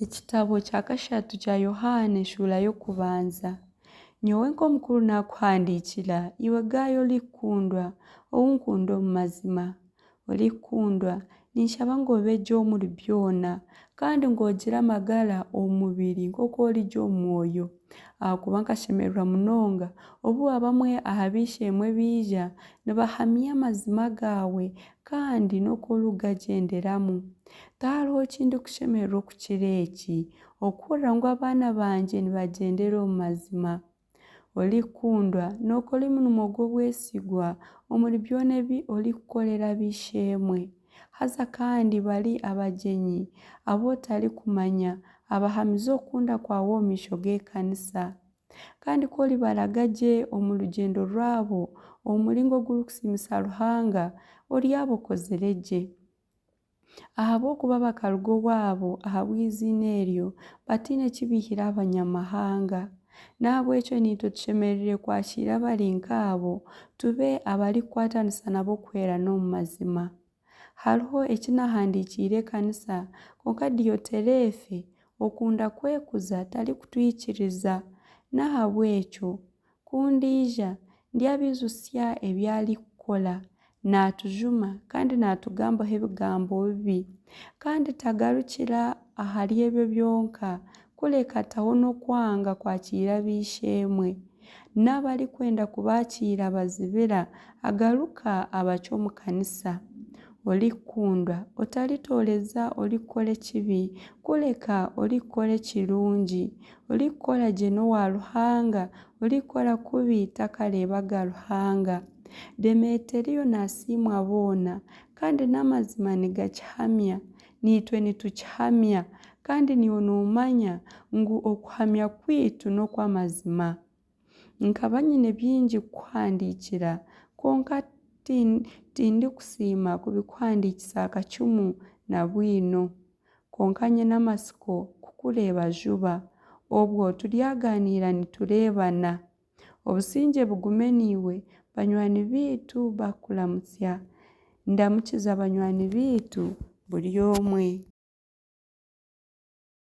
Ekitabo kya kashatu kya Yohaana eshuura y'okubanza. Nyowe nk'omukuru naakuhandiikira, iwe Gaayo orikukundwa, ou nkunda omu mazima. Orikukundwa, ninshaba ngu obe gye omuri byona, kandi ngu ogire amagara omu mubiri nk'oku ori gye omu mwoyo. Ahakuba nkashemererwa munonga obu abamwe aha b'eishe-emwe baija, nibahamya amazima gaawe, kandi n'oku orikugagyenderamu. Tihariho ki ndikushemererwa okukira eki, okuhurira ngu abaana bangye nibagyendera omu mazima. Orikukundwa, nookora omurimo gw'obwesigwa omuri byona ebi orikukorera ab'eishe-emwe, haza kandi bari abagyenyi abu otarikumanya abahamize okukunda kwawe omu maisho g'ekanisa. Kandi ku oribaraga gye omu rugyendo rwabo omu muringo ogurikusiimisa Ruhanga, oryaba okozire gye. Ahabw'okuba bakaruga owaabo ahabw'eiziina eryo, bataine ki baihire aha Banyamahanga. N'ahabw'ekyo naitwe tushemereire kwakiira abari nk'abo, tube abarikukwatanisa nabo kuhweerana omu mazima. Hariho eki naahandiikiire ekanisa, kwonka Dioterefe, okunda kwekuza, tarikutwikiriza. N'ahabw'ekyo Ku ndaija, ndyabaijutsya ebi arikukora. Naatujuma kandi naatugambaho ebigambo bibi. Kandi tagarukira ahari ebyo byonka, kureka ataho n'okwanga kwakiira ab'eishe-emwe. N'abu arikwenda kubaakiira abazibira, agaruka abacwa omu kanisa. Orikukundwa, otaritooreza orikukora ekibi, kureka orikukora ekirungi. Orikukora gye n'owa Ruhanga, orikukora kubi takareebaga Ruhanga. Demeteriyo naasiimwa boona, kandi n'amazima nigakihamya. Naitwe nitukihamya, kandi niiwe noomanya ngu okuhamya kwaitu n'okw'amazima. Nkaba nyine bingi kukuhandiikira, kwonka tindikusiima kubikuhandiikisa akacumu na bwino. Kwonka nyine amatsiko kukureeba juba. Obwo turyaganiira nitureebana. Obusingye bugume naiwe. Banywani baitu bakukuramutsya. Ndamukiza banywani baitu buri omwe.